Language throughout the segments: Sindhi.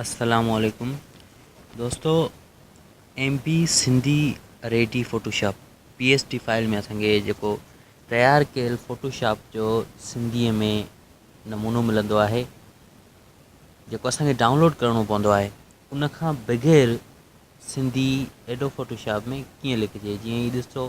السلام عليڪم دوستو M P Sindhi ready Photoshop P S T file ۾ اسان کي جيڪو تيار ڪيل فوٽوشاپ جو سنڌيء ۾ نمونو ملندو آهي جيڪو اسانکي ڊائونلوڊ ڪرڻو پوندو آهي ان کان بغير سنڌي ايڊو فوٽوشاپ ۾ ڪيئن لکجي جيئن هي ڏسو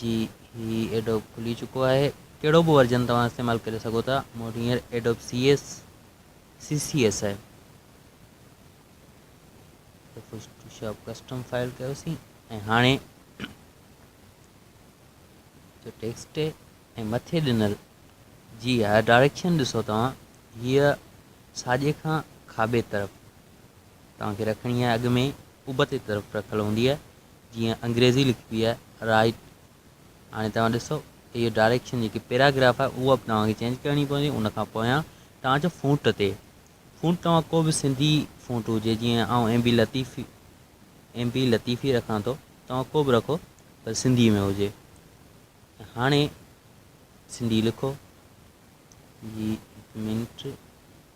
جي هي ايڊوب کلي چڪو آهي ڪهڙو به ورجن توهان استعمال ڪري سگهو ٿا مون وٽ هينئر Adobe C S C C S آهي فوٽوشاپ ڪسٽم فائل ڪيوسين ۽ هاڻي جو ٽيڪسٽ ۽ مٿي ڏنل جي ها ڊائريڪشن ڏسو توهان هيء ساڄي کان کاٻي طرف توهان کي رکڻي آهي اڳ ۾ ابتي طرف رکل هوندي آهي جيئن انگريزي لکبي آهي Write هاڻي توهان ڏسو ته هيء ڊائريڪشن جيڪي پيراگراف آهي اها به توهان کي چينج ڪرڻي پوندي ان کان پويان توهان جو فونٽ تي فونٽ توهان ڪو به سنڌي فونٽ هجي جيئن آئون ايم بي لطيفي ايم بي لطيفي رکان ٿو توهان ڪو به رکو پر سنڌي ۾ هجي هاڻي سنڌي لکو جي منٽ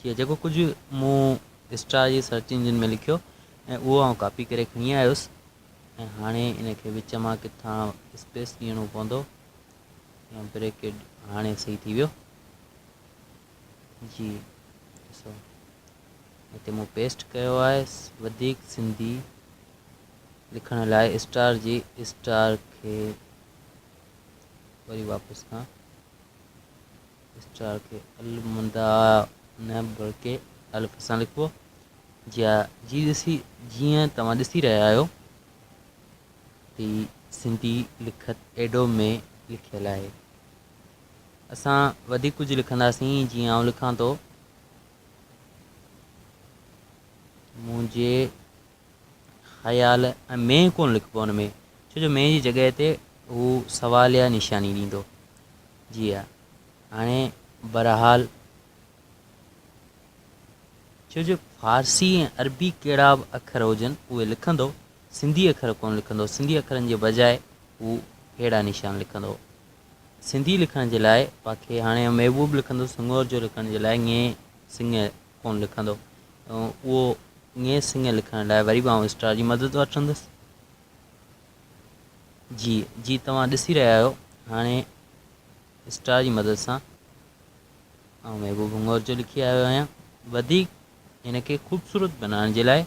ڪيو جيڪو ڪجهه مون اسٽار جي سرچ انجن ۾ لکيو ۽ اهو آئون ڪاپي ڪري کڻي آيس ۽ هاڻي ان کي وچ مان ڪٿان اسپيس ڏيڻو پوندو يا بريڪيٽ هاڻي صحيح ٿي ويو جي ڏسو هتي مون پيسٽ ڪيو آهي وڌيڪ سنڌي لکڻ لاء اسٽار جي اسٽار کي وري واپس کان اسٽار کي المندا نه بلڪه الف سان لکبو جي جي ڏسي جيئن توهان ڏسي رهيا آهيو ته سنڌي لکت ايڊو ۾ لکيل آهي اسان وڌيڪ ڪجهه لکنداسين جيئن آئون لکان ٿو منهنجي خيال ۽ مين ڪونه لکبو ان ۾ ڇو جو مين جي جڳهه تي هو سواليه نشاني ڏيندو جي ها هاڻي برحال ڇو جو فارسي ۽ عربي ڪهڙا به اکر هجن اهي لکندو سنڌي اکر ڪونه لکندو سنڌي اکرن جي بجاء هو ههڙا نشان لکندو سنڌي لکڻ جي لاء باقي هاڻي ام اهو به لکندو سڱور جو لکڻ جي لاء ڱي سڱ ڪون لکندو اهو ڱي سڱ لکڻ لاء وري به آئون اسٽار جي مدد وٺندس جي جي توهان ڏسي رهيا آهيو هاڻي اسٽار جي مدد سان آئون محبوب هڱور جو لکي آيو آهيان وڌيڪ هن کي خوبصورت بنائڻ جي لاء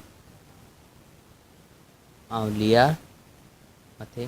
آئون ليار مٿي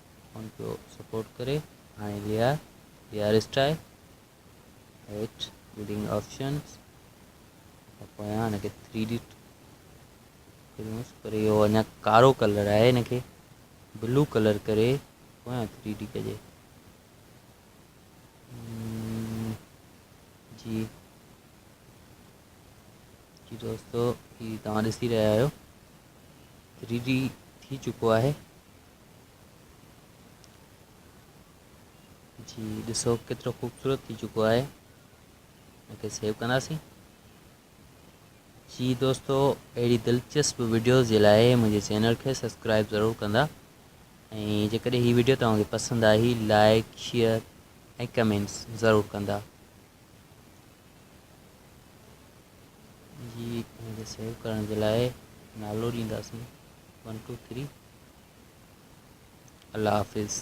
ان کي سپورٽ ڪري هاڻي ليا ليا رسٽائي هيٺ بلڊنگ آپشنز پويان ان کي 3 ڊي ڪريونس پر اهو اڃا ڪارو ڪلر آهي ان کي بلو ڪلر ڪري پويان 3 ڊي ڪجي جي جي دوستو هي توهان ڏسي رهيا آهيو 3 ڊي ٿي چڪو آهي جي ڏسو ڪيترو خوبصورت ٿي چڪو آهي ان کي سيو ڪنداسين جي دوستو اهڙي دلچسپ ويڊيوز جي لاء منهنجي چينل کي سبسڪرائب ضرور ڪندا ۽ جيڪڏهن هي ويڊيو توهانکي پسند آئي لائڪ شيئر ۽ ڪمينٽس ضرور ڪندا جي هن کي سيو ڪرڻ جي لاء نالو ڏينداسين ون ٽو ٿري الله حافظ.